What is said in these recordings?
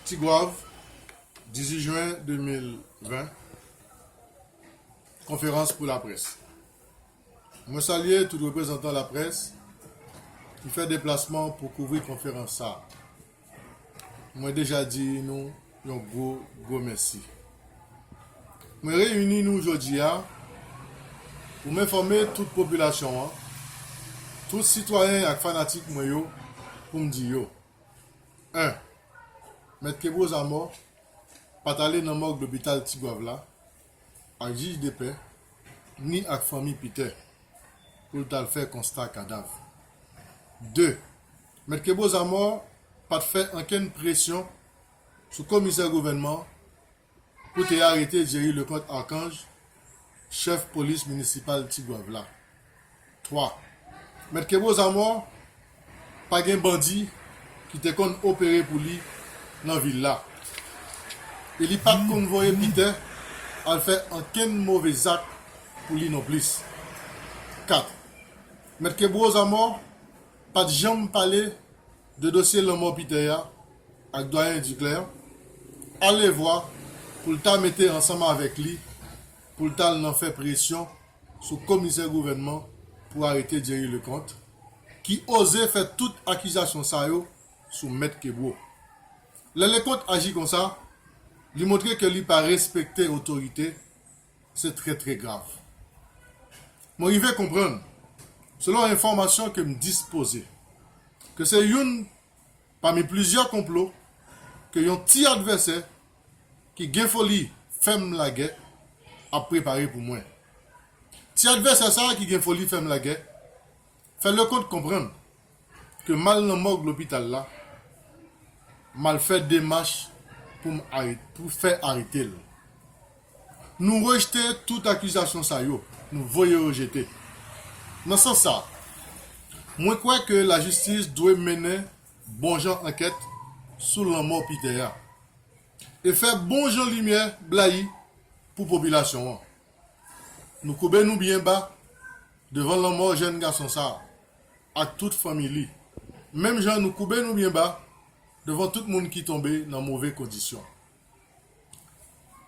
Tigwav, 18 jen 2020, Konferans pou laprès Mwen salye tout reprezantan laprès ki fè deplasman pou kouvri konferans sa a. Mwen deja di nou yon gwo, gwo mèsi. Mwen reyini nou jodi a pou m enfòme tout popilasyon an, tout sitwayen ak fanatik mwen yo pou m di yo. 1. Mèt Kebreau Zamò pa t ale nan mòg lopital Tigwav la ak jij depè ni ak fanmi Peter pou l t al fè konsta kadav. 2. Mèt Kebreau Zamò pa t fè ankenn presyon sou komisè gouvènman Pou te arete Jerry Leconte Archange, chèf polis minisipal Tigwav la. 3, Mèt Kebreau Zamor pa gen bandi ki te konn opere pou li nan vil la e li pa t konn voye Pitè al fè ankenn move zak pou li nonplis. 4, Mèt Kebreau Zamor pa t janm pale De dosye lanmò Pitè a ak Dwayen Diklè alevwa pou l ta mete ansanm avèk li pou l t al nan fè presyon sou komisè gouvènman pou arete Jerry Leconte ki oze fè tout akizasyon sa yo sou Mèt Kebreau. Lè Leconte aji konsa, li montre ke li pa respekte otorite Se trè trè grav. Mwen rive konprann, selon enfòmasyon ke m dispoze, ke se youn pami plizyè konplo ke yon ti advèsè ki gen foli fè m lagè ap prepare pou mwen. Ti advèsè sa ki gen foli fè m lagè Fè Leconte konprann ke m'al nan mòg lopital la, m'al fè demach pou m arete, pou fè arete l. Nou rejte tout akizasyon sa yo, nou voye yo jete. Nan sans sa, mwen kwè ke lajistis dwe mennen bon jan ankèt sou lanmò Peter a, e fè bon jan limyè blayi pou popilasyon an. Nou koube nou byen ba. Devan lanmò jèn gason sa a ak tout fanmi li, menm jan nou koube nou byen ba devan tout moun ki tonbe nan move kondisyon.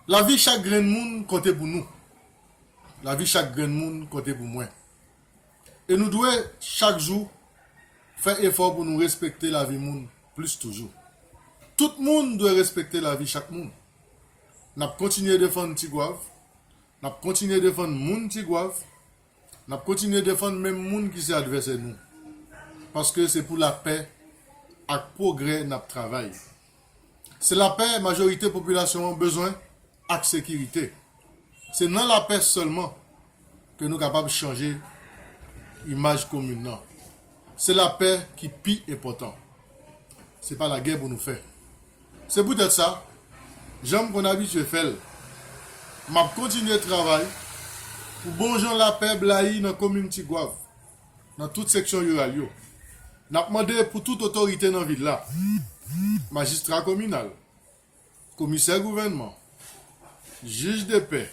Lavi chak grenn moun konte pou nou. Lavi chak grenn moun konte pou mwen. E nou dwe chak jou fè efò pou nou respekte lavi moun plis toujou. Tout moun dwe respekte lavi chak moun. N ap kontinye defann Tigwav, N ap kontinye defann moun Tigwav, n ap kontinye defann menm moun ki se advèsè nou. Paske se pou lapè ak pwogrè n ap travay. Se lapè majorite popilasyon an bezwen ak sekirite. Se nan lapè sèlman ke nou kapab chanje imaj komin nan. Se lapè ki pi enpòtan. Se pa lagè pou nou fè. Se poutèt sa, jan m konn abitye fè l, m ap kontinye travay pou bonjan lapè blayi nan komin Tigwav, nan tout seksyon riral yo. N ap mande pou tout otorite nan vil la, majistra kominal, komisè gouvènman, jij de pè,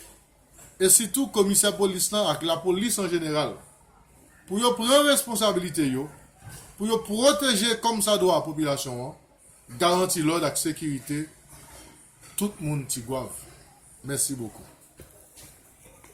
e sitou komisè polis lan ak lapolis an jeneral, pou yo pran responsabilite yo, pou yo pwoteje kòmsadwa popilasyon an, Garanti lòd ak sekirite tout moun Tigwav. Mèsi bokou.